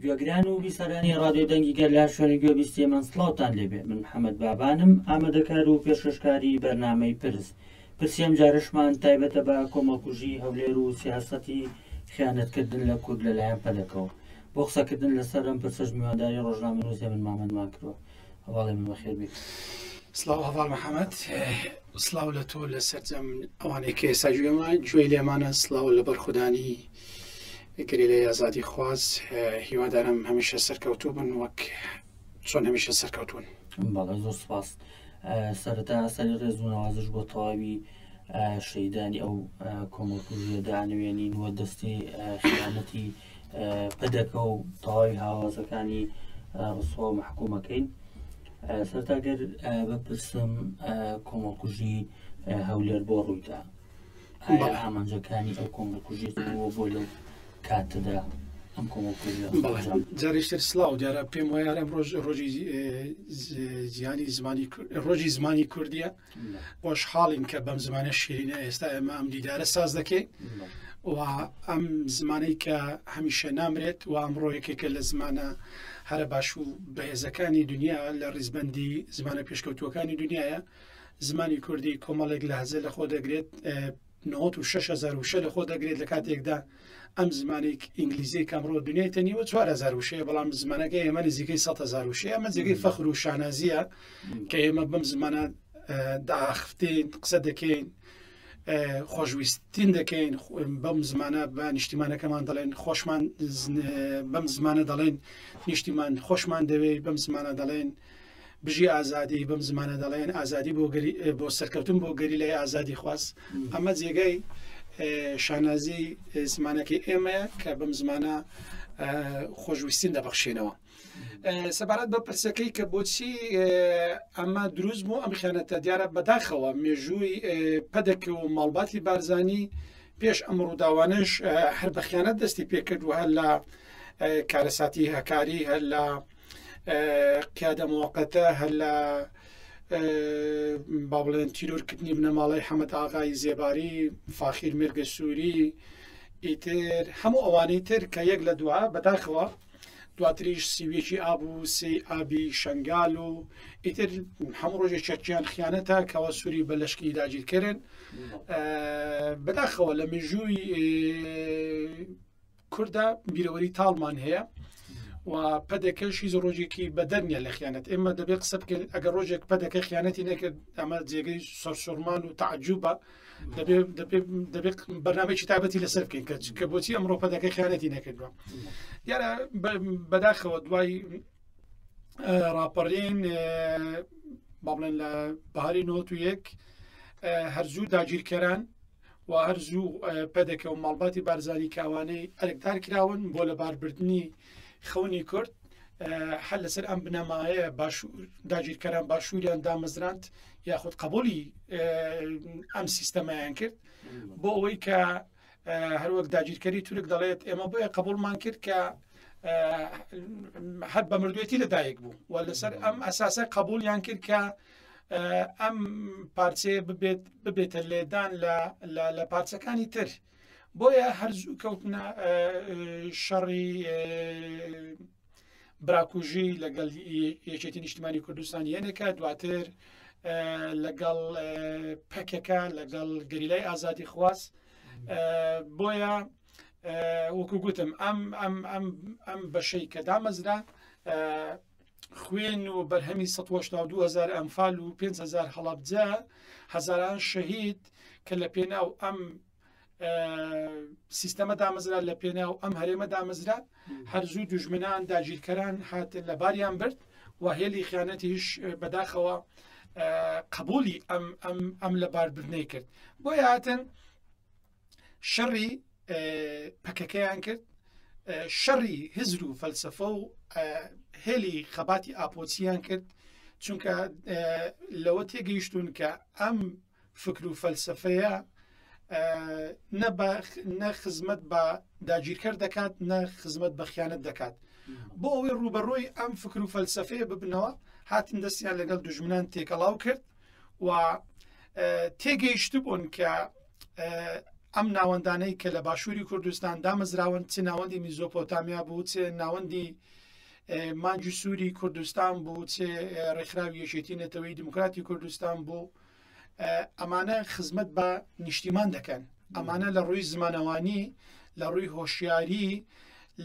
گوێگران و بیسەرانی ڕادیۆ دەنگی گەر لە شوێنی گوێبیستی من سڵاوتان لێبێ من محەممەد بابانم ئامادەکار و پێشکەشکاری بەرنمەی پرس پرسیەم جارشمان تایبەتە بە کۆمەڵکوژی هەولێر و سیاستی خیانەتکردن لە کورد لەلایەن پەدەکەوە بۆ قسەکردن لەسەر ئەم پرسش میوانداری ڕۆژنامە نووسێ من مامەندمان کردوە هەواڵی من بەخێر بیت سلااو هەواڵ محەممەد سلااو لە تۆ لە سەررجەم ئەوانەی کە ئێستا گوێمە گوێ لێمانە سلااو لە بەرخودانی گرێ لە یازادی خواز هیوادارم هەمیشە سەرکەوتو بن وەک چۆن هەمیشە سەرکەوتون بەڵێ زۆر سپاس سەرتا سەری ڕێزونەوازش بۆ تەواوی شەیدانی ئەو کۆمەڵکوژیە دانوێنین وە دەستی خیانەتی پەدەکە و تەواوی هاوازەکانی ڕسوا و محکومەکەین سەرتاگەر بپرسم کۆمەڵکوژی هەولێر بۆ ڕوویدا ئایا ئامانجەکانی ئەو کۆمەڵکوژی بۆ لەو کاتەدا ئەم کۆمەڵکوژە جارێشتر سلااو دیارە پێم وایە ئەم ڕۆژ ڕۆژی زیانی زمانی ڕۆژی زمانی کوردیە خۆشحاڵین کە بەم زمانە شیرینە ئێستا ئێمە ئەم دیدارە ساز دەکەین و ئەم زمانەی کە هەمیشە نامرێت و ئەمڕۆ یەکێکە لە زمانە هەرە باش و بەهێزەکانی دنیا لە ڕیزبندی زمانە پێشکەوتوەکانی دنیاە زمانی کوردی کۆمەڵێک لە هەزە لە خۆ دەگرێت نهۆت و شەش هەزار وشە لە خۆ دەگرێت لە کاتێکدا ئەم زمانی ئینگلیزی کامڕۆ دنیای تەنیوە چوار هزار وشەیە بەڵام زمانەکە ئێمە نزیکەی سە هزار وشەیە ئەمە جێگەی فەخر و شانازیە کە ئێمە بەم زمانە داخفتین قسە دەکەین خۆشویستین دەکەین بەم زمانە بە نیشتیمانەکەمان دەڵێن خۆشمان بەم زمانە دەڵێن نیشتیمان خۆشمان دەوێت بەم زمانە دەڵێن بژی ئازادی بەم زمانە دەڵێن ئازادی بۆ بۆ سەرکەوتن بۆ گەریلای ئازادی خواست ئەمە جێگای شانازی زمانەکەی ئێمەیە کە بەم زمانە خۆشویستین دەبەخشێنەوە سەبارەت بە پرسەکەی کە بۆچی ئەمە دروست بوو ئەم خیانەتە دیارە بەداخەوە مێژووی پەدەکە و ماڵباتی بارزانی پێش ئەم ڕووداوانش هەر بەخیانەت دەستی پێکردوە هەر لە کارەساتی هەکاری هەر لە قیادە موقتە هەر لە با بڵێن تیرۆرکردنی بنەماڵی حەمەد ئاغای زێباری فاخیر مێرگە سووری ئیتر هەموو ئەوانەی تر کە یەک لە دووە بەداخەوە دواتریش سیوێکی ئاب و سی ئابی شنگال و ئیتر هەموو ڕۆژێک چەکیان خیانەتە کەەوە سووری بە لەشکی داگیرکردن بەداخەوە لە مێژووی کوردە بیرەوەری تاڵمان هەیە و پەدەکەش هیچ ڕۆژێکی بەدەرنیە لە خیانەت ئێمە دەبێت قسە بکەین ئەگە ڕۆژێک پەدەکە خیانەتی نەکرد ئەمە جێگەی سەرسوورمان و تعجوبە دەبێت بەنامێکی تابەتی لەسەر بکەین کە کە بۆچی ئەمڕۆ پەدەکە خیانەتی نەکردووە دیارە بەداخەوە دوای ڕاپەڕین با بڵێن لە باری نۆ و یەک هەرزوو داگیرکەران و هەرزوو پەدەکە و ماڵباتی بارزانی کاوانەی ئەرکدار کراون بۆ لەباربردنی خەونی کورد هەر لەسەر ئەم بنەمایە باش داگیرکەران باشووریان دامەزراند یاخود قبولی ئەم سیستەمایان کرد بۆ ئەوەی کە هەروەک داگیرکەری تورک دەڵێت ئێمە بۆیە قبولمان کرد کە هەر بە مردوێتی لەدایک بوو و لەسەر ئەم ئەساسە قبولیان کرد کە ئەم پارچەیە ببێت ببێتە لێدان لە پارچەکانی تر بۆیە هەرزوو کەوتنە شەڕی براکوژی لەگەڵ یەکێتی نیشتمانی کوردستان یەنێکە دواتر لەگەڵ پەکەکە لەگەڵ گەریلای ئازادی خواز بۆیە وەکو گوتم ئەم ئەم ئەم ئەم بەشەی کە دامەزرا خوێن و بەرهەمی ١٨٢ هەزار ئەنفال و 5 هەزار هەڵەبجە هەزاران شەهید کە لە پێناو ئەم سیستەمە دامەزرا لە پێناو ئەم هەرێمە دامەزرا هەرزوو دوژمنان داگیرکەران هاتن لە باریان برد و هێلی خیانەتیش بەداخەوە قبولی ئەم ئەم لە باردنەی کرد بۆ هاتن شەڕی پەکەکەیان کرد شەڕی هزر و فەلسفە و هێلی خەباتی ئاپۆچیان کرد چونکە لەوە تێگەیشتون کە ئەم فکر و فەلسفەیە نە خزمەت بە داگیرکەر دەکات نە خزمەت بە خیانەت دەکات بۆ ئەوەی ڕوبەڕۆی ئەم فکر و فەلسفەیە ببنەوە هاتن دەستیان لەگەڵ دژمنان تێکەڵاو کرد و تێگەیشتبوون کە ئەم ناوەندانەی کە لە باشووری کوردستان دامەزراون چ ناوەندی میزۆپۆتامیا بوو چ ناوەندی مانجی سووری کوردستان بوو چ ڕێکخراوی یەکێتی نەتەوەی دموکراتی کوردستان بوو ئەمانە خزمەت بە نیشتیمان دەکەن ئەمانە لە ڕووی زمانەوانی لە ڕووی هۆشیاری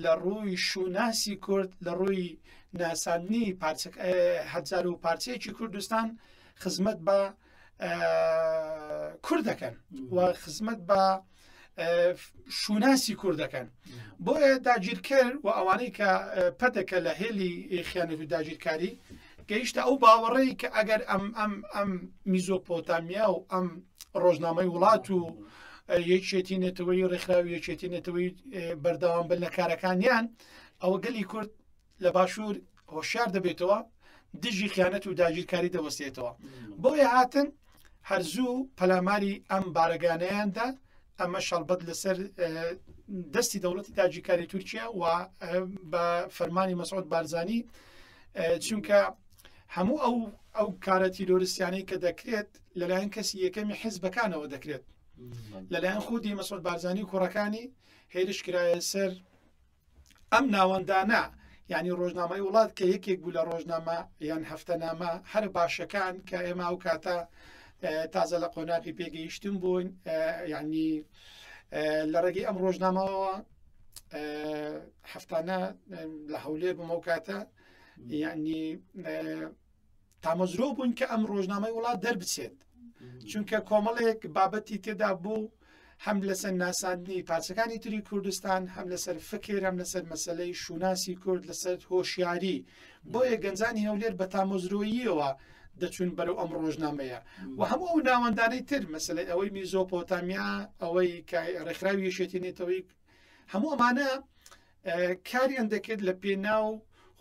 لە ڕووی شووناسی کورد، لە ڕووی ناساندنی پارچە هەزار و پارچەیەکی کوردستان خزمەت بە کورد دەکەن و خزمەت بە شووناسی کورد دەکەن بۆیە داگیرکەر و ئەوانەی کە پەتەکە لە هێلی خیانەت و داگیرکاری گەیشتە ئەو باوەڕەی کە ئەگەر ئەم ئەم ئەم میزۆپۆتامیا و ئەم ڕۆژنامەی وڵات و یەکێتی نێتەوەی ڕێکخراوی یەکێتی نێتەوەی بەردەوام بن لە کارەکانیان ئەوە گەلی کورد لە باشوور هۆشار دەبێتەوە دژی خیانەت و داگیرکاری دەوەستێتەوە بۆیە هاتن هەرزوو پەلاماری ئەم بارەگانەیاندا ئەمە شەڵبەت لەسەر دەستی دەوڵەتی تاجیکاری تورکیا و بە فەرمانی مەسعود بارزانانی چونکە هەموو ئەو ئەو کارە تیرۆریسیانەی کە دەکرێت لەلایەن کەسی یەکەمی حیزبەکانەوە دەکرێت لەلایەن خودی مەسۆل بارزانانی و کوڕەکانی هێرش کرایە سەر ئەم ناوەندانە ینی ڕۆژنامەی وڵات کە یەکێک بوو لە ڕۆژنامە یان هەفتەنامە هەر باشەکان کە ئێمە و کاتە تازە لە قۆناقی پێگەیشتن بوون ینی لە ڕێگەی ئەم ڕۆژنامەوە هەفتانە لە هەولێر بمەو کاتە ینی تامەزرۆ بوون کە ئەم ڕۆژنامەی وڵات دەربچێت چونکە کۆمەڵێک بابەتی تێدا بوو هەم لەسەر ناساندنی پارچەکانی تری کوردستان هەم لەسەر فکر هەم لەسەر مەسلەی شوناسی کورد لەسەر هۆشیاری بۆیە گەنجانی هەولێر بە تامۆزرۆییەوە دەچون بەرەو ئەم ڕۆژنامەیە و هەموو ئەو ناوەندانەی تر مەسلەی ئەوەی میزۆپۆتامیا ئەوەی ڕێکخراوی یشێتی نێتەوەی هەموو ئەمانە کاریان دەکرد لە پێناو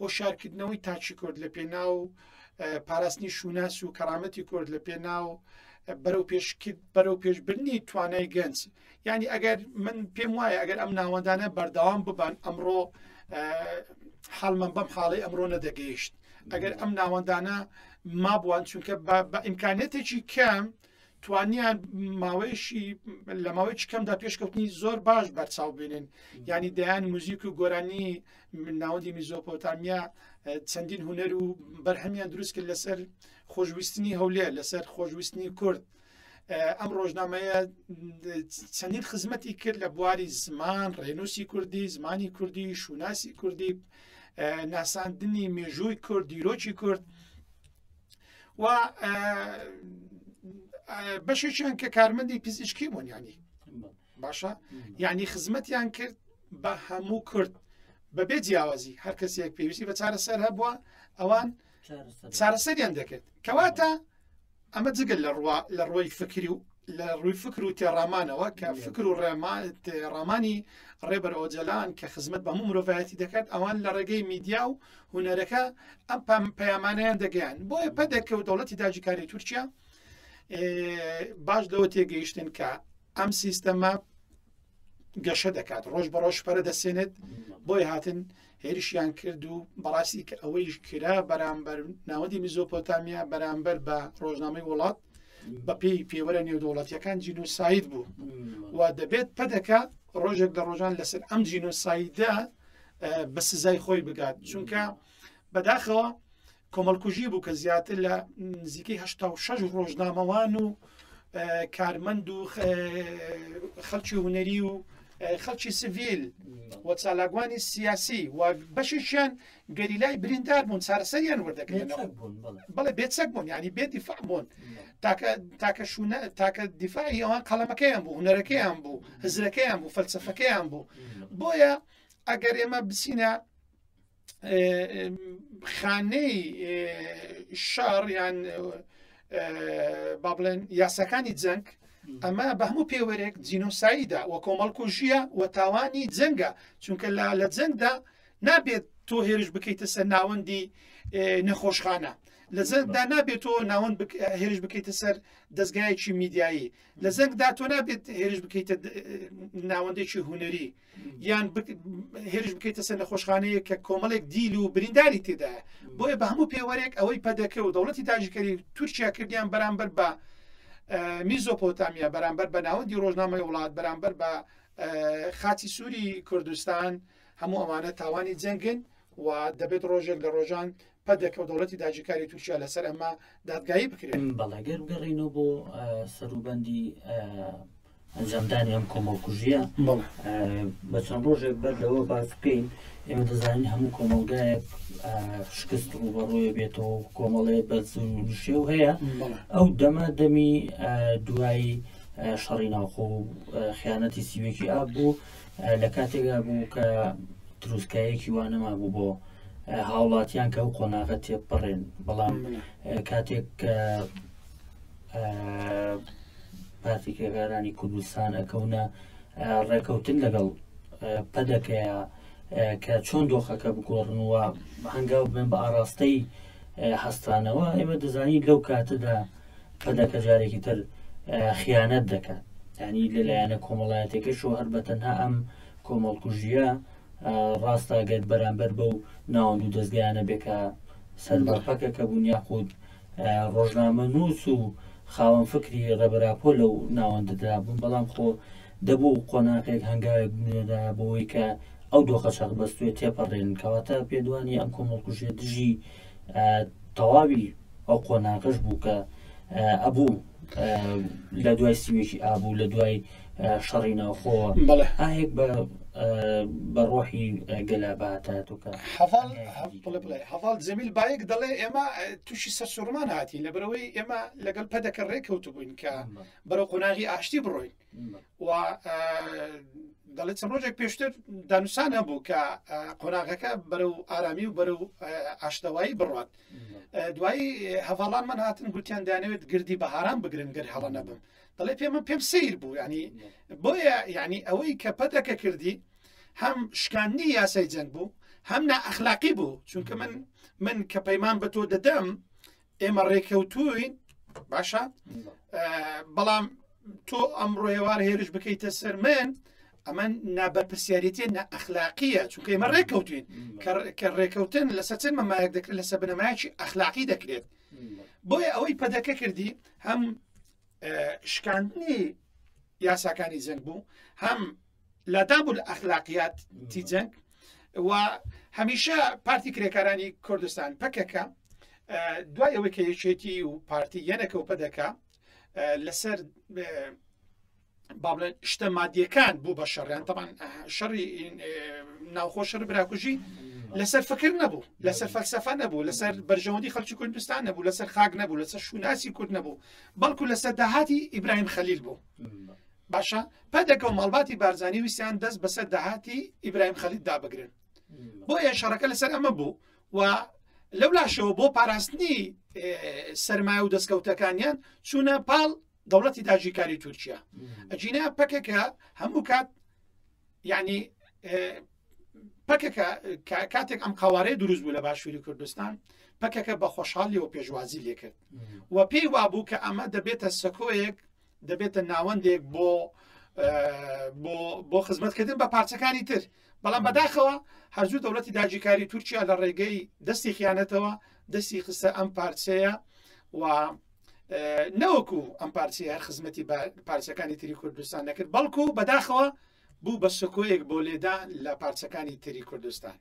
هۆشارکردنەوەی تاکی کورد لە پێناو پاراستنی شوناس و کەرامەتی کورد لە پێناو بەرەو پێشکرد بەرەو پێشبرنی توانای گەنج ینی ئەگەر من پێم وایە ئەگەر ئەم ناوەندانە بەردەوام ببان ئەمڕۆ حالمان بەم حاڵی ئەمڕۆ نەدەگەیشت ئەگەر ئەم ناوەندانە مابووان چونکە بە ئیمکانەتێکی کەم توانیان ماوەیەشی لە ماوەی چکەمدا پێشکەوتنی زۆر باش بەرچاو بینن ینی دەیان موزیک و گۆرانی ناوەندی میزۆپۆتامیا چەندین هوەر و بەرهەمیان دروست کرد لەسەر خۆشویستنی هەولێر لەسەر خۆشویستنی کورد ئەم ڕۆژنامەیە چەندین خزمەتی کرد لە بواری زمان ڕێنوسی کوردی زمانی کوردی شوناسی کوردی ناساندنی مێژووی کورد دیرۆکی کورد و بەشێکیان کە کارمەندی پزیشکی بوون ینی باشە ینی خزمەتیان کرد بە هەموو کورد بەبێ جیاوازی هەر کەسێک پێویستی بە چارەسەر هەبووە ئەوان چارەسەریان دەکرد کەواتە ئەمە جگەل لە ڕوا لە ڕۆی فکری و لە ڕووی فکر و تێڕامانەوە کە فکر و ڕێڕامانی ڕێبەر ئۆجلان کە خزمەت بە هەموو مرۆڤایەتی دەکات ئەوان لە ڕێگەی میدیا و هونەرەکە ئەم پام پەیامانیان دەگەیان بۆیە پەدەکە و دەوڵەتی داجیکاری تورکیا باش لەوە تێگەیشتن کە ئەم سیستەمە گەشە دەکات ڕۆژ بە ڕۆژ پەرە دەسێنێت بۆی هاتن هێرشیان کرد و بەڕاستی کە ئەوەیش کرا بەرامبەر ناوەندی میزۆپۆتامیا بەرامبەر بە ڕۆژنامەی وڵات بەپی پێوەرە نێودوڵەتیەکان جینوساید بوو و دەبێت پەدەکە ڕۆژێک لە ڕۆژان لەسەر ئەم جینوسایدە بە سزای خۆی بگات چونکە بەداخەوە کۆمەڵکوژی بوو کە زیاتر لە نزیکەی هه شش ڕۆژنامەوان و کارمەند و خەڵکی هوەری و خەڵکی سڤیل و چالاگوانی سیاسی و بەشیشیان گەریلای بریندار بوون چارەسەریان وەردەکرێن بڵێ بێچەک بوون ینی بێ دیفاع بوون تاکە شوونە تاکە دیفاعی ئەوان قەڵەمەکەیان بوو هوەرەکەیان بوو هزرەکەیان بوو فەلسفەکەیان بوو بۆیە ئەگەر ئێمە بچینە خانەی شار یان با بڵێن یاساکانی جەنگ ئەمە بە هەموو پێوەرێک جینۆساییدا و کۆمەڵکوژیە و تاوانی جەنگە چونکە لە لە جەنگدا نابێت تۆ هێرش بکەیتە سەر ناوەندی نەخۆشخانە لە زەنگدا نابێت تۆ ناوەند هێرش بکەیتە سەر دەستگایەکی میدیایی لە زەنگدا تۆ نابێت هێرش بکەیتە ناوەندێکی هوەری یان هێرش بکەیتە سەر نەخۆشخانەیە کە کۆمەڵێک دیل و برینداری تێدایە بۆیە بە هەموو پێوەرێک ئەوەی پەدەکە و دەوڵەتی داژکەری و تورکیا کردیان بەرامبەر بە میزۆپۆتامیا بەرامبەر بە ناوەندی ڕۆژنامەی وڵات بەرامبەر بە خاچی سووری کوردستان هەموو ئەوانە تاوانی جەنگن و دەبێت ڕۆژێک لە ڕۆژان پەدەکە و دەوڵەتی داگیرکاری تورکیا لەسەر ئەمە دادگایی بکرێن. بەڵێ گەر بگەڕێینەوە بۆ سەروبەندی ئەنجامدانی ئەم کۆمەڵکوژیە بە چەند ڕۆژێک بەر لەوە باس بکەین ئێمە دەزانین هەموو کۆمەلگایەک شکست ڕوبەڕووە بێتەوە کۆمەڵەیە بەرز و نشێو هەیە ئەو دەمە دەمی دوایی شەڕی ناوخۆ خیانەتی سیوێکی ئاب بوو لە کاتێکدا بوو کە تروسکایەکی وا نەمابوو بۆ هاوڵاتیان کە ئەو قۆناغە تێپەڕێن بەڵام کاتێک کە پارتی کرێکارانی کوردستان ئەکەونە ڕێکەوتن لەگەڵ پەدەکەیە کە چۆن دۆخەکە بگۆڕن وە هەنگاو بن بە ئاراستەی هەستانەوە ئێمە دەزانین لەو کاتەدا پەدە کە جارێکی تر خیانەت دەکات ینی لەلایەنە کۆمەڵایەتەکەشەوە هەر بە تەنها ئەم کۆمەڵکوژیە ڕاستە گەر بەرامبەر بە و ناوەند و دەستگایانە بێکە سەر بەپەکە کە بوون یاخود ڕۆژنامە نووس و خاوەن فکری ڕێبەراپۆ لەو ناوەندەدا بوون بەڵام خۆ دەبوو قۆناغێک هەنگاوێک بنێدا بۆەوەی کە ئەو دۆخە چەق بەستێت تێپەڕێن کەواتە پێدوانی ئەم کۆمەڵکوژێ دژی تەواوی ئەو قۆناغەش بوو کە ئەبوو لە دوای سیوێکی ئابوو لە دوای شەڕی ناوخۆوە بەڵێ ئاهێک بە بە ڕۆحی گەلاباتاتوکە هەواڵ جەمیل بایەک دەڵێ ئێمە تووشی سەرسوڕمان هاتین لە برەوەی ئێمە لەگەڵ پەدەکە ڕێکەوت بووین کە بەرەو قۆناغی ئاشتی بڕۆین و دەڵێت چەند ڕۆژێک پێشتر دانوسان هەبوو کە قۆناغەکە بەرە و ئارامی و بەرە و ئاشتەوایی بڕات دوایی هەواڵان من هاتن گوتیان دانەوێت گردی بەهاران بگرن گەر هەڵە نەبم دەڵێ پێمە پێم سیر بوو ینی بۆیە ینی ئەوەی کە پەتەکە کردی هەم شکاندنی یاسای جەنگ بوو هەم نائەخلاقی بوو چونکە من من کە پەیمان بە تۆ دەدەم ئێمە ڕێکەوتوین باشە بەڵام تۆ ئەم ڕۆێوار هێرش بکەیتە سەر من ئەمە نابەرپسیارەتی نە ئەخلاقیە چونکە ئمە ڕێککەوتین کە ڕێککەوتن لەسەر چەند مەمایەک دەکرێت لەسەر بنەمایکی ئەخلاقی دەکرێت بۆیە ئەوەی پەدەکە کردی هەم شکاندنی یاساکانی جەنگ بوو هەم لاداب الاخلاقیات تی جەنگ و هەمیشە پارتی کرێکارانی کوردستان پەکەکە دوای ئەوەی کە یەکێتی و پارتی یەنەکە و پەدەکە لەسەر بابلێن شتە مادیەکان بوو بە شەڕیان تەمان شەڕی ناوخۆ شەر براکوژی لەسەر فکر نەبوو لەسەر فەلسەفە نەبوو لەسەر بەرژەوەندی خەلکی کوردستان نەبوو لەسەر خاک نەبوو لەسەر شوناسی کورد نەبوو بەڵکو لەسەر داهاتی ئیبراهیم خەلیل بوو باشە پەدەکە و ماڵباتی بارزانانی ویسیان دەست بەسەر داهاتی ئیبراهیم خەلید دابگرن بۆ ئێ شەڕەکە لەسەر ئەمە بوو و لەو لاشەوە بۆ پاراستنی سرمایە و دەستکەوتەکانیان چوونە پاڵ دەوڵەتی داژیکاری تورکیا ئەجینا پەکەکە هەموو کات یعنی پەکەکە کاتێک ئەم قوارەی دروست بوو لە باشووری کوردستان پەکەکە بە خۆشحالیەوە پێشوازی لێکرد و پێی وابوو کە ئەمە دەبێتە سەکۆیەک دەبێتە ناوەندێک بۆ بۆ خزمەتکردن بە پارچەکانی تر بەڵام بەداخەوە هەرزوو دەوڵەتی داجیکاری تورکیا لە ڕێگەی دەستی خیانەتەوە دەستی خستە ئەم پارچەیە و نەوەکو ئەم پارچەیە خزمەتی پارچەکانی تری کوردستان نەکرد بەڵکو بەداخەوە بوو بە سکۆیەک بۆ لێدان لە پارچەکانی تری کوردستان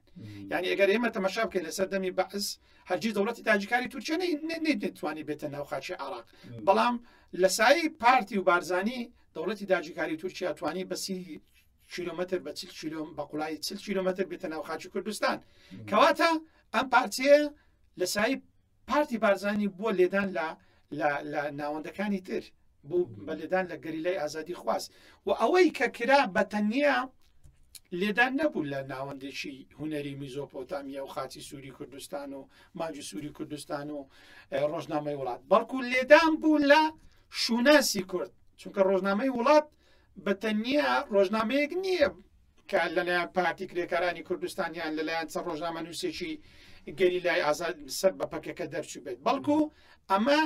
یعنی ئەگەر ئێمە تەمەشا بکەین لەسەر دەمی بەعس هەرگیز دەوڵەتی تاجیکانی تورکیا نەیتوانی بێتە ناو خاچی عراق بەڵام لە سایی پارتی و بارزانانی دەوڵەتی داجیکاری تورکیا توانی بەسی کیلومتر بە چل کیلوم بە قوڵای چل کیلومتر بێتە ناو خاچی کوردستان کەواتە ئەم پارتیە لە سایی پارتی بارزانانی بووە لێدان لە لە لە ناوەندەکانی تر بوو بە لێدان لە گەریلای ئازادی خواست و ئەوەی کە کرا بە تەنیا لێدان نەبوو لە ناوەندێکی هوەری میزۆپۆتامیا و خاچی سووری کوردستان و ماجی سووری کوردستان و ڕۆژنامەی وڵات بەڵکو لێدان بوو لە شوناسی کورد چونکە ڕۆژنامەی وڵات بە تەنیا ڕۆژنامەیەک نییە کە لەلایەن پارتی کرێکارانی کوردستان یان لەلایەن چە ڕۆژنامە نووسێکی گەری لای ئازاد سەر بە پەکەکە دەرچوو بێت بەڵکو ئەمە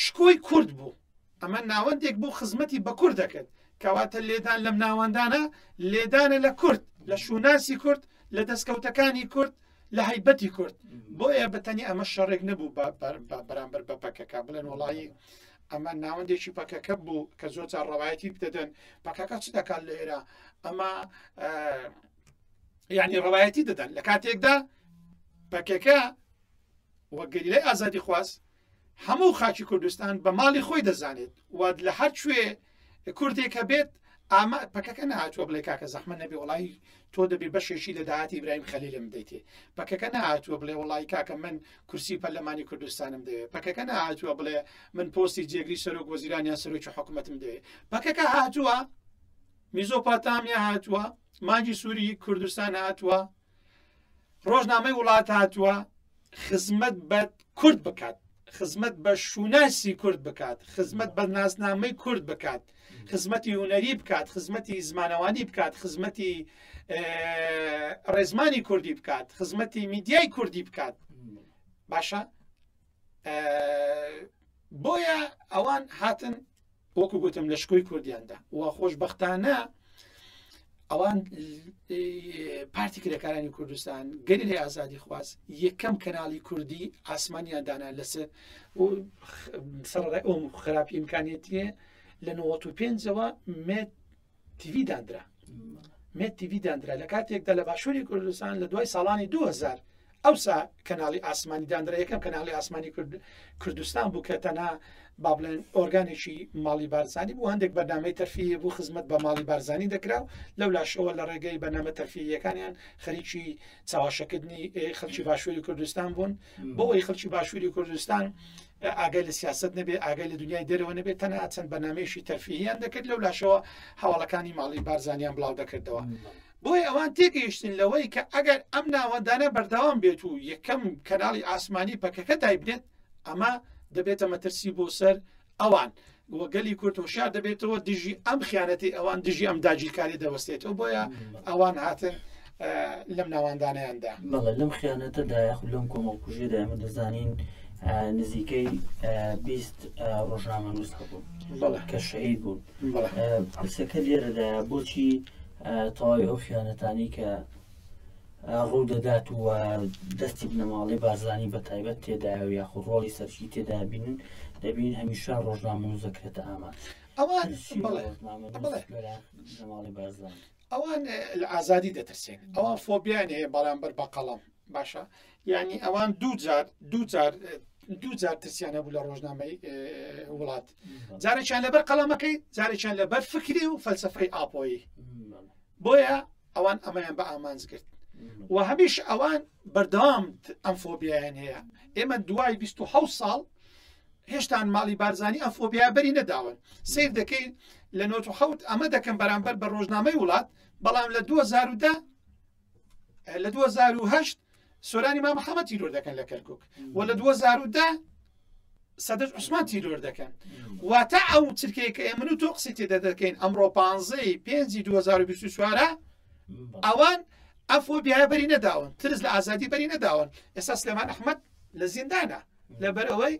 شکۆی کورد بوو ئەمە ناوەندێک بۆ خزمەتی بە کورد دەکرد کەواتە لێدان لەم ناوەندانە لێدانە لە کورد لە شووناسی کورد لە دەستکەوتەکانی کورد لە هەیبەتی کورد بۆیە بەتەنی ئەمە شەڕێک نەبوو بەرامبەر بە پەکەکە بڵێن وڵی ئەمە ناوەندێکی پەکەکە بوو کە زۆر جار ڕەوایەتی بدەدەن پەکەکە چ دەکات لە ئێرە ئەمە یعنی ڕەوایەتی دەدەن لە کاتێکدا پەکەکە وەگەریلای ئازادی خواست هەموو خاچی کوردستان بە ماڵی خۆی دەزانێت وات لە هەر کوێ کوردێک کە بێت ئاما پەکەکە نهاتوە بڵێ کاکە زەحمە نەبێ وڵی تۆ دەبێ بەشێکی لە داهاتی برایم خەلیلم دەیتێ پەکەکە نهاتوە بڵێ وڵی کاکە من کورسی پەرلەمانی کوردستانم دەوێت پەکەکە نهاتوە بڵێ من پۆستی جێگری سەرۆک وەزیران یا سەرۆکی حکوومەتم دەوێت پەکەکە هاتووە میزۆپاتامیا هاتووە ماجی سووری کوردستان هاتووە ڕۆژنامەی وڵات هاتووە خزمەت بە کورد بکات خزمەت بە شووناسی کورد بکات خزمەت بە ناسنامەی کورد بکات خزمەتی هوەری بکات خزمەتی زمانەوانی بکات خزمەتی ڕێزمانی کوردی بکات خزمەتی میدیای کوردی بکات باشە بۆیە ئەوان هاتن وەکو گوتم لە شکۆی کوردیاندا و خۆش بەختانە ئەوان پارتی کرێکارانی کوردستان گەری لە ئازادی خواز یەکەم کەناڵی کوردی ئاسمانیان دانا لەسەر سەر ئەو خراپی امکانێتیە لە 95ەوە مێت تیڤی داندرا مێت تیڤی داندرا لە کاتێکدا لە باشووری کوردستان لە دوای ساڵانی 2000 ئەوسا کەناڵی ئاسمانی داندرا یەکەم کەناڵی ئاسمانی کرد کوردستان بوو کە تەنا با بڵێن ئۆرگانێکی ماڵی بارزانانی بوو هەندێک بەنامەی تەرفیە بوو خزمەت بە ماڵی بارزانانی دەکرا و لەو لاشەوە لە ڕێگەی بەنامە تەرفیەکانیان خەریکی چاواشەکردنی خەلکی باشووری کوردستان بوون بەوەی خەڵکی باشووری کوردستان ئاگای لە سیاست نەبێ ئاگای لە دنیای دەرەوە نەبێت تەنها چەند بەنامێشی تەرفیهیان دەکرد لەو لاشەوە هەواڵەکانی ماڵی بارزانیان بڵاو دەکردەوە. بۆی ئەوان تێگەیشتن لەوەی کە ئەگەر ئەم ناوەندانە بەردەوام بێت و یەکەم کەناڵی ئاسمانی پەکەکە دایبنێت ئەمە دەبێتە مەترسی بۆ سەر ئەوان، و گەلی کورد هۆشیار دەبێتەوە دژی ئەم خیانەتی ئەوان دژی ئەم داگیرکاری دەوەستێتەوە بۆیە ئەوان هاتن لەم ناواندانیاندا بەڵێ لەم خیانەتەدا یاخود لەم کۆمەڵکوژیدا ئەمە دەزانین نزیکەی بیست ڕۆژنامە نووس هەبوو کە شەهید بوون پرسەکە لێرەدا بۆچی تەواوی ئەو خیانەتانی کە ڕوودەدات و دەستی بنەماڵەی بارزانی بە تایبەت تێدایە و یاخود ڕۆڵی سەرکی تێدا بینن دەبین هەمیشە ڕۆژنامەوز دەکرێتە ئاماد ئەوان ئەوان لە ئازادی دەترسێن ئەوان فۆبیان هەیە بەرامبەر بە قەڵم باشە یعنی ئەوان دوو جار دوو جار دوو جار ترسیان هەبوو لە ڕۆژنامەی وڵات جارێکیان لەبەر قەڵەمەکەی جارێکیان لەبەر فکری و فەلسفەی ئاپۆیی بۆیە ئەوان ئەمەیان بە ئامانج کرد و هەمیش ئەوان بەردەوام ئەم فۆبیایان هەیە ئێمە دوای 26 ساڵ هێشتان ماڵی بارزانانی ئەم فۆبیا بەری نەداون سیر دەکەین لە 1970 ئەمە دەکەم بەرامبەر بە ڕۆژنامەی وڵات بەڵام لە 2010 لە 2010 سۆرانی مام حەمە تیرۆر دەکەن لە کەرکک و لە 2010 سەدەش عوسمان تیرۆر دەکەن واتە ئەو چرکەیە کە ئێمن و تۆ قسی تێدا دەکەین ئەمڕۆ پانزەی پێنجی 2024 ئەوان ئەف و بیایە بەری نەداون ترس لە ئازادی بەری نەداون ئێستا سلێمان ئەحمد لە زیندانە لەبەر ئەوەی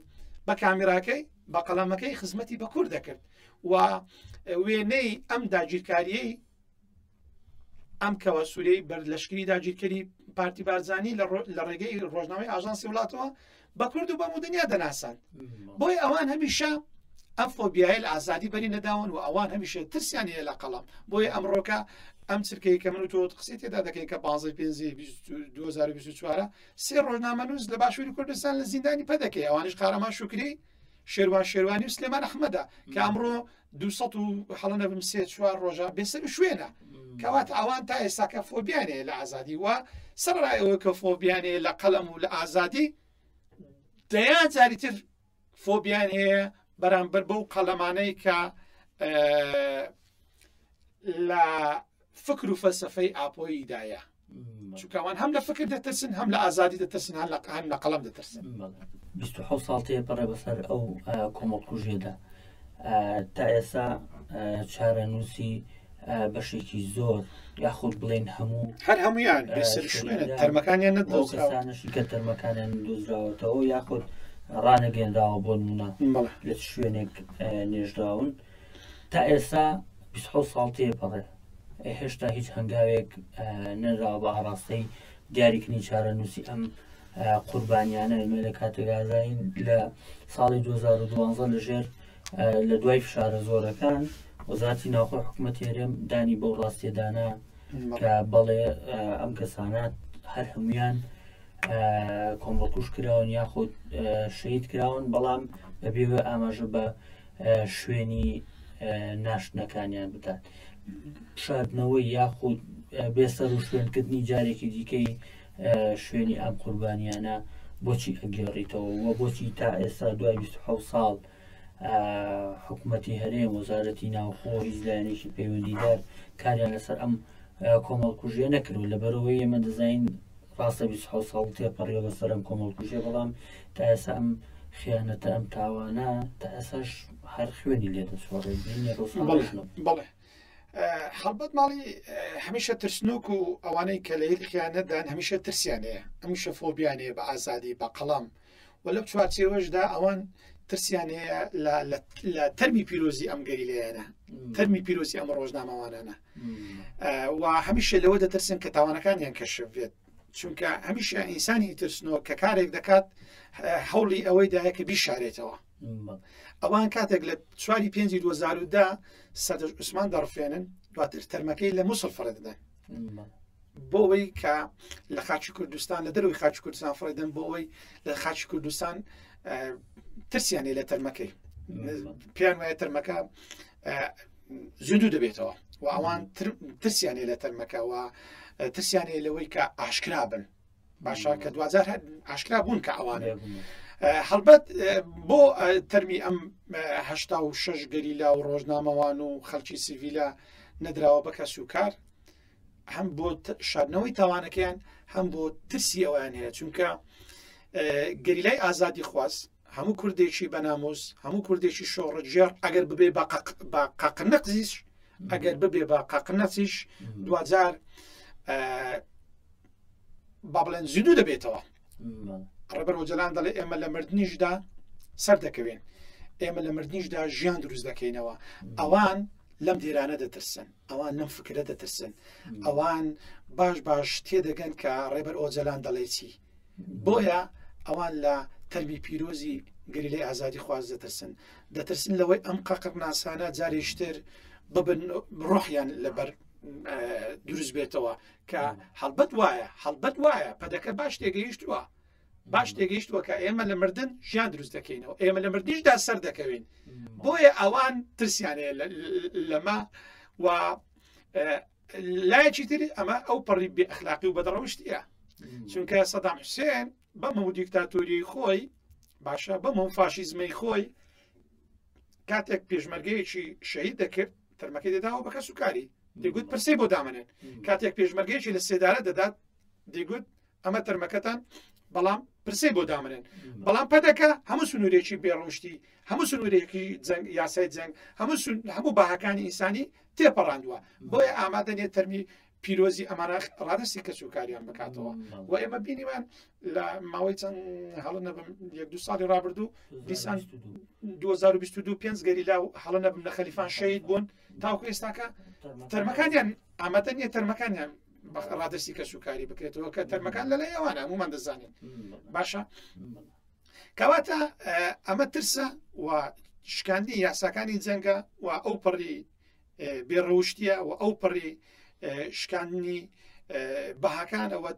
بە کامیراکەی بە قەڵەمەکەی خزمەتی بە کورد دەکرد و وێنەی ئەم داگیرکاریەی ئەم کەوە سوورەی بەر لەشکری داگیرکەری پارتی بارزانانی لە ڕێگەی ڕۆژنامەی ئاژانسی وڵاتەوە بە کورد و بە مدنیا دەناسان بۆی ئەوان هەمیشە ئەم فۆبیایل ئازادی بەری نەداون و ئەوان هەمیشە ترسیان هەیە لە قەڵام بۆی ئەمڕۆکە ئەم چرکەی کە من و تۆ قسەی تێدا دەکەین کە بازی پێ 2024 سێ ڕۆژنامە نووس لە باشووری کوردستان لە زیندانی پەدەکەی ئەوانش قارەمان شکری شێروان شێروانی و سلێمان ئەحمەدە کە ئەمڕۆ دو سەد و هەڵە نەبم سێ چوار ڕۆژە بێسەر و شوێنە کەوات ئەوان تا ئێستاکە فۆبیانەیە لە ئازادی وە سەرڕای ئەوە کە فۆبیانەیە لە قەلەم و لە ئازادی دەیان جاری تر فۆبیان هەیە بەرامبەر بەو قەلەمانەی کە لە فکر و فەلسفەی ئاپۆییدایە چکوان هەم لە فکر دەترسن هەم لە ئازادی دەترسن هەن لە قان لە قەڵم دەترسن ساڵ تێ پەڕێ بەسەر ئەو کۆمەڵکوژێدا تا ئێسا چارەنووسی بەشێکی زۆر یاخود بڵێن هەموو هەر هەمویان تەرمەکانیان نەدۆزانشی کە تەرمەکانیان دۆزراوەتەوە یاخود ڕانەگەێنراوە بۆ نمونە لە شوێنێک نێژراون تا ئێستا بیست و حەوت ساڵ تێپەڕێ هێشتا هیچ هەنگاوێک نەراوە بە ئاراستەی دیاریکردنی چارەنووسی ئەم قوربانیانە ئێمە لە کاتێگازین لە ساڵی 2012 لەژێر لە دوای فشارە زۆرەکان وەزارتی ناوخۆ حکوومەت هێرێم دانی بەو ڕاستێدانە کە بەڵێ ئەم کەسانات هەر هەمویان کۆمەڵکوش کراون یاخود شەید کراون بەڵام بەبێوە ئاماژە بە شوێنی ناشتنەکانیان بکات شاردنەوەی یاخود بێسەر و شوێنکردنی جارێکی دیکەی شوێنی ئەم قوربانیانە بۆچی ئەگەڕیتەوە و بۆچی تا ئێستا دوای 26 ساڵ حکوومەتی هەرێم وەزارەتی ناوخۆ هیچ لایەنێکی پەیوەندیدار کاریان لەسەر ئەم کۆمەڵکوژیە نەکردو لە بەرەوەی ئێمە دەزین ڕاستە بیست و حەوت ساڵ تێپەڕیوە بەسەر ئەم کۆمەڵکوژیە بەڵام تا ئێسا ئەم خیانەتە ئەم تاوانە تا ئێساش هەر خوێنی لێ دەسوڕێ بینێ ڕۆژان بەڵێ ڕۆژنە بەڵێ ئە، هەڵبەت ماڵی ئە، هەمیشە ترسنۆک و ئەوانەی کە لە هیل خیانەتدان هەمیشە ترسیان هەیە هەمیشە فۆبیان هەیە بە ئازادی بە قەڵەم و لەم چوارچێوەشدا ئەوان ترسیان هەیە لە لە لە تەرمی پیرۆزی ئەم گەریلەیانە تەرمی پیرۆزی ئەم ڕۆژنامەوانانە و هەمیشە لەوە دەترسن کە تاوانەکانیان کەشف بێت چونکە هەمیشە ئینسانی ترسنەوە کە کارێک دەکات هەوڵی ئەوەی دایە کە بیشارێتەوە ئەوان کاتێک لە چواری پێنجی 2010 سەدر عوسمان دەڕفێنن دواتر تەرمەکەی لە مووسڵ فڕێدەدەن بۆەوەی کە لە خاچی کوردستان لە دەروی خاچ کوردستان فڕێدەن بۆەوەی لە خاچ کوردستان ترسیانێ لە تەرمەکەی پێیان وایە تەرمەکە زیندوو دەبێتەوە و ئەوان ترسیانێ لە تەرمەکەەوە ترسیانێ لەوەی کە ئاشکرا بن باشە کە دوجار ئاشکرا بوون کە ئەوانێ هەڵبەت بۆ تەرمی ئەم هشتا و شش گەریلا و ڕۆژنامەوان و خەڵکی سیڤیلا نەدراوە بە کەس و کار هەم بۆ شادنەوەی تاوانەکەیان هەم بۆ ترسی ئەویان هەیە چونکە گەریلای ئازادی خواست هەموو کوردێکی بەناموس هەموو کوردێکی شۆڕجێڕ ئەگەر ببێ بە قەق نەقزیش ئەگەر ببێ بە قەق نەسیش دوجار با بڵێن زیدو دەبێتەوە ڕێبەر وجلان دەڵێ ئێمە لە مردنیشدا سەر دەکەوێن ئێمە لە مردنیشدا ژیان دروست دەکەینەوە ئەوان لەم دێرانە دەترسن ئەوان لەم فکرە دەترسن ئەوان باش باش تێدەگەن کە ڕێبەر ئۆجلان دەڵێ چی بۆیە ئەوان لە تەرمی پیرۆزی گەریلای ئازادیخواز دەترسن، دەترسن لەوەی ئەم قاقڕناسانە جارێکیتر ببن ڕۆحیان لەبەر دروست بێتەوە کە هەڵبەت وایە هەڵبەت وایە پەدەکە باش تێگەیشتووە باش تێگەیشتووە کە ئێمە لە مردن ژیان دروست دەکەینەوە ئێمە لە مردیشدا سەر دەکەوین بۆیە ئەوان ترسیانەیە لەمە و لایەکی تر ئەمە ئەو پەڕی بێ ئەخلاقی و بەدڕەوشتە چونکە سەدام حوسێن بەمە و دیکتاتۆری خۆی باشە بەمە و فاشیزمەی خۆی کاتێک پێشمەرگەیەکی شەهید دەکرد تەرمەکەی دەداوە بە کەس و کاری دەگوت پرسی بۆ دامنێن کاتێک پێشمەرگەیەکی لە سێدارە دەدات دەگوت ئەمە تەرمەکەتان بەڵام پرسەی بۆ دامنێن بەڵام پەدەکە هەموو سنوورێکی بێڕشتی هەموو سنوورێکی جەنگ یاسای جەنگ هەموو هەموو باهەکانی ئینسانی تێپەڕاندووە بۆیە ئامادە نێت تەرمی پیرۆزی ئەمانە ڕادستی کەس و کاریان بکاتەوە و ئێمە بینیمان لە ماوەی چەند هەڵ نەبم یەک دو ساڵی رابرردوو دیسان 2022 پێنج گەریلا و هەڵ نەبم لە خەلیفان شەید بوون تاوکو ئێستاکە تەرمەکانیان ئامادە نیە تەرمەکانیان ڕادرسی کەس و کاری بکرێتەوە کە تەرمەکان لە لای ئەوانە هەمومان دەزانین باشە کەواتە ئەمە ترسە و شکاندی یاساکانی جەنگە و ئەو پەڕی بێڕەوشتیە و ئەو پەڕی شکاندنی بەهاکانەوە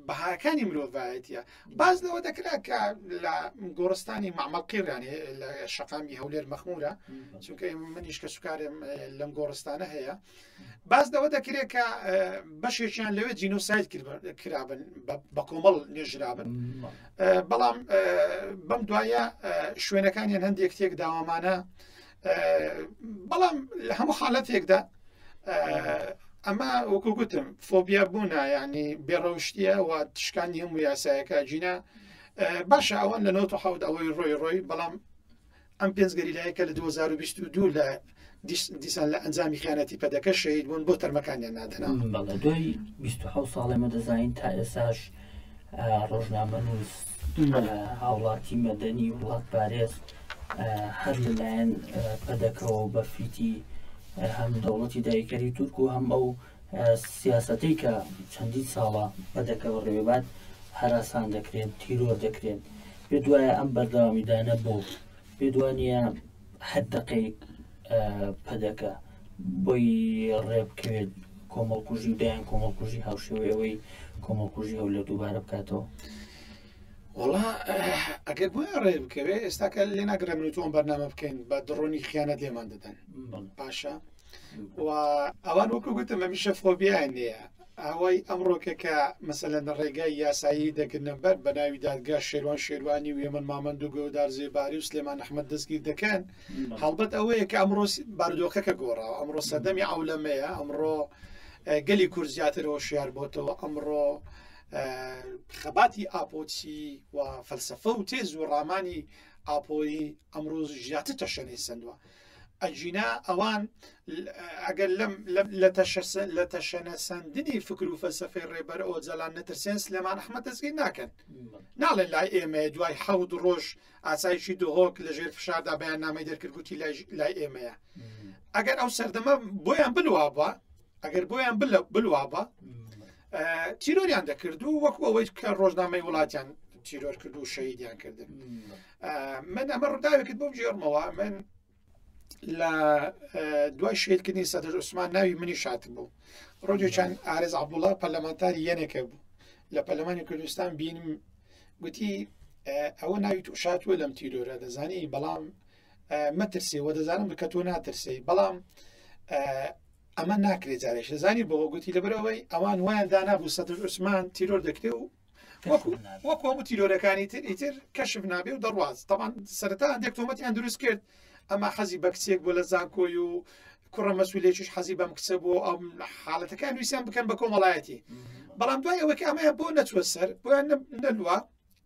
بەهاکانی مرۆڤایەتە باز لەوە دەکرا کە لە گۆڕستانی مامەڵقیران لە شەقامی هەولێر مەخمورە چونکە منیش کە سوکارێم لەم گۆڕستانە هەیە باس لەوە دەکرێت کە بەشێکیان لەوێ جینۆسایت کرابن بە کۆمەڵ نێژرابن بەڵام بەم دوایە شوێنەکانیان هەندێک تێک داوامانە بەڵام لە هەموو حالەتێکدا ئەمە وەکو گوتم فۆبیا بوونە ینی بێڕەوشتیە و تشکانی هەموو یاسایەکە جینا باشە ئەوان لە نەوت حوت ئەوەی ڕۆی ڕۆی بەڵام ئەم پێنج گەریلایە کە لە دوو هەزار و بیست و دوو لە دیس- دیسان لە ئەنجامی خیانەتی پەدەکە شەهید بوون بۆ تەرمەکانیان نادەنا بەڵێ دوای 27 ساڵ ئێمە دەزانین تا ئێساش آه، ڕۆژنامە نووس بەڵێ. آه، هاوڵاتی مەدەنی وڵات پارێز آه، هەر لەلایەن آه، پەدەکەوە بە فیتی آه، هەم دەوڵەتی داگیرکەری تورک و هەم ئەو سیاسەتەی کە چەندین ساڵە بە دەکەوە ڕێباد هەراسان دەکرێن تیرۆر دەکرێن پێ دوایە ئەم بەردەوامیدانە بۆ پێ دوانە حد دەقەیەک پەدەکە بۆی ڕێبکەوێت کۆمەڵکوژی و دایان کۆمەڵکوژی هاوشێوەی ئەوەی کۆمەڵکوژی هەولە دووبارە بکاتەوە وڵا ئەگەر بۆ ڕێ بکەوێت ئێستاکە لێ ناگرە من تۆم بەرنامە بکەین بە دڕۆنی خیانەت لێمان دەدەن باشە و ئەوان وەکو گوتم هەمیشە فۆبیان نیە ئەوەی ئەمڕۆکە کە مەسەلە لە ڕێگای یاسایی دەگرنە بەر بە ناوی دادگا شێوان شێوانی و هێمن مامەند و گەودار زێباری و سلێمان ئەحمد دەستگیر دەکەن هەڵبەت ئەوەیە کە ئەمڕۆ بارودۆخەکە گۆڕاوە ئەمڕۆ سەردەمی ئەولەمەیە ئەمڕۆ گەلی کورد زیاتر هۆشیار بۆتەوە ئەمڕۆ خەباتی ئاپۆچی و فەلسفە و تێز و ڕامانی ئاپۆیی ئەمڕۆ ژیاتر تەشەنەی سندوە ئەگینا ئەوان ئەگەر لەم لە تەشەنەسەندنی فکر و فەلسفەی ڕێبەر ئۆجەلان نەترسێن سلێمان ئەحمە دەستگیر ناکەن ناڵێن لای ئێمە دوای حەوت ڕۆژ ئاسایشی دهۆک لە ژێر فشاردا بەیان نامی دەرکردگوتی لای ئێمەیە ئەگەر ئەو سەردەمە بۆیان بلوابە ئەگەر بۆیان بلوابە تیرۆریان دەکرد و وەکو ئەوەی کە ڕۆژنامەی وڵاتیان تیرۆر کرد و شەیدیان کردن من ئەمە ڕداوێکت بۆ بگێڕمەوە من لە دوای شێلکردنی سەدر عوسمان ناوی منی شات بوو ڕۆژێ چەند ئارز عبدوڵا پەرلەمانتاری یەنێکە بوو لە پەلمانی کوردستان بینم گوتی ئەوە ناوی تو شاتوە لەم تیرۆرە دەزانی بەڵام مەترسێ وە دەزانم بکە تۆ ناترسی بەڵام ئەمە ناکرێت جارێک دەزانی بۆ گوتی لەبەرەوەی ئەوان وایان دانابوو سەدر عوسمان تیرۆر دەکرێ و وەک هەموو تیرۆرەکانی تر ئیتر کەشف نابێ و دەڕواز تەوان سەرتا هەندێک تۆمەتیان دروست کرد ئەمە حەزی بە کچێک بۆ لە زانکۆی و کوڕە مەسولێکیش حەزی بەم کچە بۆ ئەم حاڵەتەکان نووسیان بکەن بە کۆمەڵایەتی بەڵام دوای ئەوەی ئەمەیە بۆ نەچوە سەر بۆیان نەلووە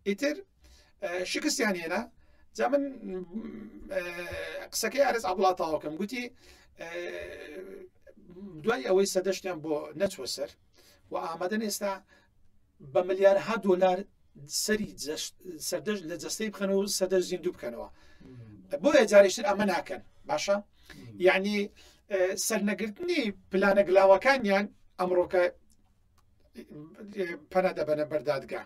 ئیتر شکستیان هێنا جا من قسەکەی ئارز عبڵا تاوەکەم گوتی دوای ئەوەی سەدەشتیان بۆ نەچوە سەر و ئامادەن ئێستا بە ملیارها دۆلار سەری سەردەش لە جەستەی بخەن و سەدەر زیندوو بکەنەوە بۆ ئەجارشتر ئەمە ناکەن باشە یعنی سەرنەگرتنی پلانە گلاوەکانیان ئەمڕۆکە پەنا دەبەنە بەردادگا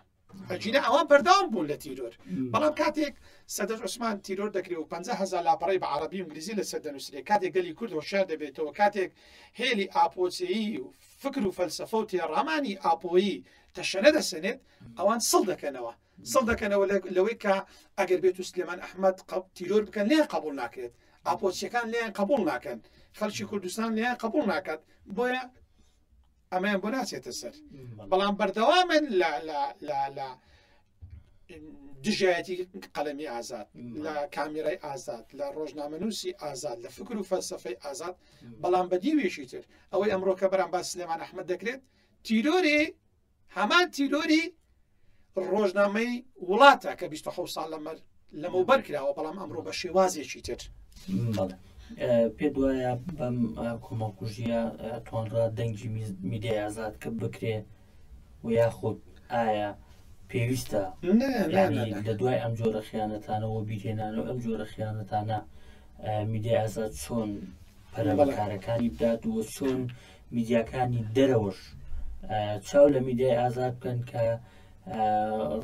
ئەجینە ئەوان بەرداوام بوون لە تیرۆر بەڵام کاتێک سەدەر عوسمان تیرۆر دەکرێت و 500هزار لاپەڕی بە عربی انگلیزی لەسەر دەنووسێ کاتێک گەلی کورد هۆشار دەبێتەوە کاتێک هێلی ئاپۆچەیی و فکر و فەلسەفە و تێڕامانی ئاپۆیی تەشەنە دەسەنێت ئەوان سڵ دەکەنەوە سڵ دەکەنەوە لەوەی کە ئەگەر بێت و سلێمان ئەحمد قەڵ تیرۆر بکەن لێ قبول ناکرێت ئاپۆچیەکان لێیان قبول ناکەن خەلکی کوردستان لێیان قبول ناکات بۆیە ئەمەیان بۆ ناچێتە سەر بەڵام بەردەوامن لە دژایەتی قەلەمی ئازاد لە کامیرای ئازاد لە ڕۆژنامەنووسی ئازاد لە فکر و فەلسفەی ئازاد بەڵام بە دیوێکی تر ئەوەی ئەمڕۆکە بەرام باس سلێمان ئەحمد دەکرێت تیرۆری هەمان تیرۆری ڕۆژنامەی وڵاتە کە 26 ساڵ لەمەر لەمە بەر کراوە بەڵام ئەمڕۆ بە شێوازێکی تر پێ دوایە بەم کۆمەڵکوژیە تۆنڕا دەنگی میدیای ئازاد کە بکرێ و یاخود ئایا پێویستە نا نا یعنی نا نا لە دوای ئەم جۆرە خیانەتانە و بیرهێنانە و ئەم جۆرە خیانەتانە ئە، میدیای ئازاد چۆن پەرە بە بەڵێ کارەکانی بدات و چۆن میدیاکانی دەرەوەش ئە، چاو لە میدیای ئازاد بکەن کە ئە،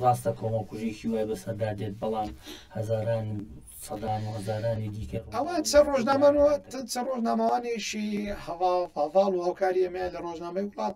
ڕاستە کۆمەڵکوژیی وای بەسەردا دێت بەڵام هەزاران و سەدان و هەزارانی دیکە ئەوە ڕووبەڕووی چەند ئەو ڕۆژنامەن و جەنایەتە ت دەبن. چەند ڕۆژنامەوانێکی هەڤاڵ پاڤاڵ و هاوکاری ئەمەیان لە ڕۆژنامەی وڵات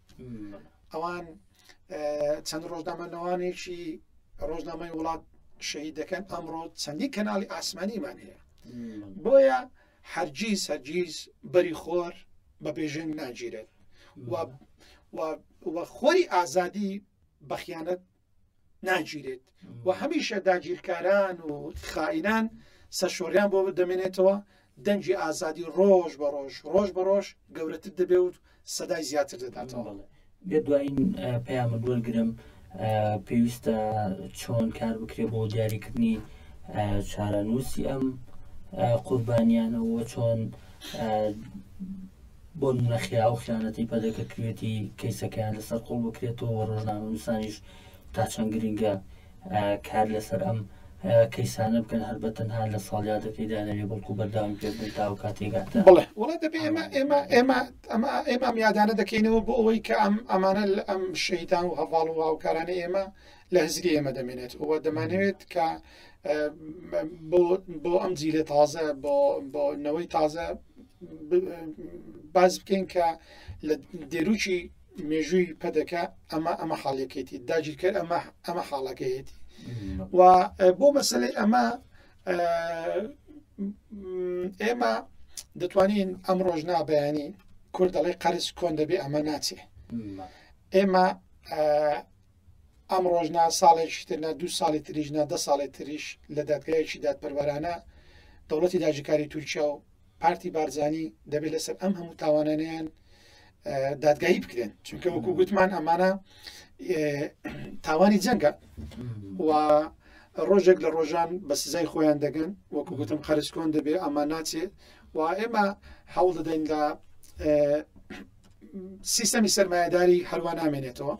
ئەوان چەند ڕۆژنامەنەوانێکی ڕۆژنامەی وڵات شەهید دەکەن ئەمڕۆ چەندی کەناڵی ئاسمانیمان هەیە بۆیە هەرگیز هەرگیز بەری خۆر بە بێژنگ ناگیرێت و خۆری ئازادی بەخیانەت ناگیرێت و هەمیشە داگیرکاران و خائینان سەرشۆریان بۆ دەمێنێتەوە دەنگی ئازادی ڕۆژ بە ڕۆژ ڕۆژ بە ڕۆژ گەورەتر دەبێ و سەدای زیاتر دەداتەوە بێ دوایین پەیامە دوەرگرم پێویستە چۆن کار بکرێت بۆ دیاریکردنی چارەنووسی ئەم قوربانیانەوە چۆن بۆ نمونە خێرا ئەو خیانەتەی پەدەکە کردوێتی کەیسەکەیان لەسەر قوڵ بکرێتەوە و ڕۆژنامەنووسانیش تا چەند گرنگە کار لەسەر ئەم کەیسانە بکەن هەر بە تەنها لە ساڵیادەکەی دانەوێ بەڵکو بەرداوی پێبدەن تا و کاتێگاتە بڵێ وڵات دەبێ ئێمە ئێمە ئێمە ئەمە ئێمە میادانە دەکەینەوە بۆ ئەوەی کە ئەم ئەمانە لە ئەم شەیدان و هەواڵ و هاوکارانی ئێمە لە هزری ئێمە دەمێنێت و دەمانەوێت کە بۆ ئەم جیلە تازە بۆ نەوەی تازە باز بکەین کە لە دێروکی مێژووی پەدەکە ئەمە ئەمە حاڵەکەیتی داگیرکەر ئەمە ئەمە حاڵەکەیەتی و بۆ مەسلەی ئەمە ئێمە دەتوانین ئەم ڕۆژ نابیانی کورد دەڵێ قەرز کۆن دەبێ ئەمە ناچێ ئێمە ئەمڕۆش نا، ساڵێکیش تر نا، دوو ساڵی تریش نا، دە ساڵی تریش لە دادگایەکی دادپەروەرانە دەوڵەتی داگیرکاری تورکیا و پارتی بارزانی دەبێت لەسەر ئەم هەموو تاوانانیان دادگایی بکرێن چونکە وەکو گوتمان ئەمانە تاوانی جەنگە و ڕۆژێک لە ڕۆژان بە سزای خۆیان دەگەن وەکو گوتم قەرسکۆن دەبێ ئەمە ناچێ و ئێمە هەوڵ دەدەین لە سیستەمی سەرمایهداری هەروە نامێنێتەوە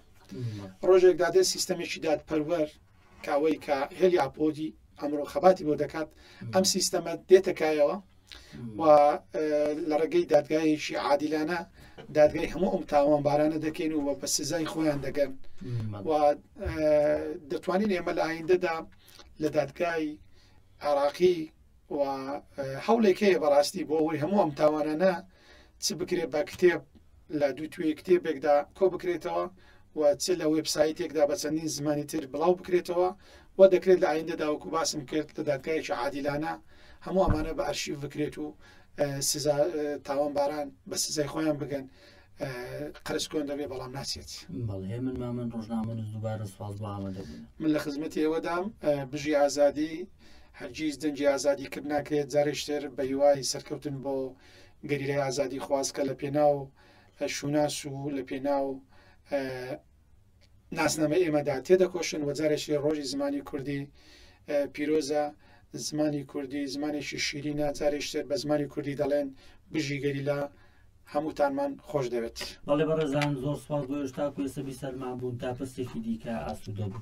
ڕۆژێک دادێت سیستەمێکی دادپەروەر کە ئەوەی کە هێلی ئاپۆدی ئەمڕۆ خەباتی بۆ دەکات ئەم سیستەمە دێتەکایەوە و لە ڕێگەی دادگایەکی عادیلانە دادگای هەموو ئەم تاوان بارانە دەکەین و بە سزای خۆیان دەگەن و دەتوانین ئێمە لە ئایندەدا لە دادگای عراقی و هەوڵێک هەیە بەڕاستی بۆ ئەوەی هەموو ئەم تاوانانە چ بکرێت بە کتێب لە دووتوێی کتێبێکدا کۆ بکرێتەوە و چ لە وێبسایتێکدا بە چەندین زمانی تر بڵاو بکرێتەوە و دەکرێت لە ئایندەدا وەکو باسم کرد لە دادگایەکی عادیلانە هەموو ئەمانە بە ئەرشیف بکرێت و سزا تاوانباران بە سزای خۆیان بگەن قەرز کۆن دەبێ بەڵام ناچێت بەڵێ من ما من ڕۆژنامە دووبارە سواز بۆ ئامادە بوون من لە خزمەتی ئێوەدام بژی ئازادی هەرگیز دەنگی ئازادی کرد ناکرێت جارێشتر بە هیوای سەرکەوتن بۆ گەریلای ئازادیخواز کە لە پێناو شوناس و لە پێناو ناسنامە ئێمەدا تێدەکۆشن و جارێکی ڕۆژی زمانی کوردی پیرۆزە زمانی کوردی زمانێکی شیری ناجارێشتر بە زمانی کوردی دەڵێن بژی گەریلا هەمووتانمان خۆش دەوێت بەڵێ بەڕێزان زۆر سپاس بۆ هێشتا کوێسەبی سەرمان بوون تا پرسێکی دیکە ئاسوودە بوو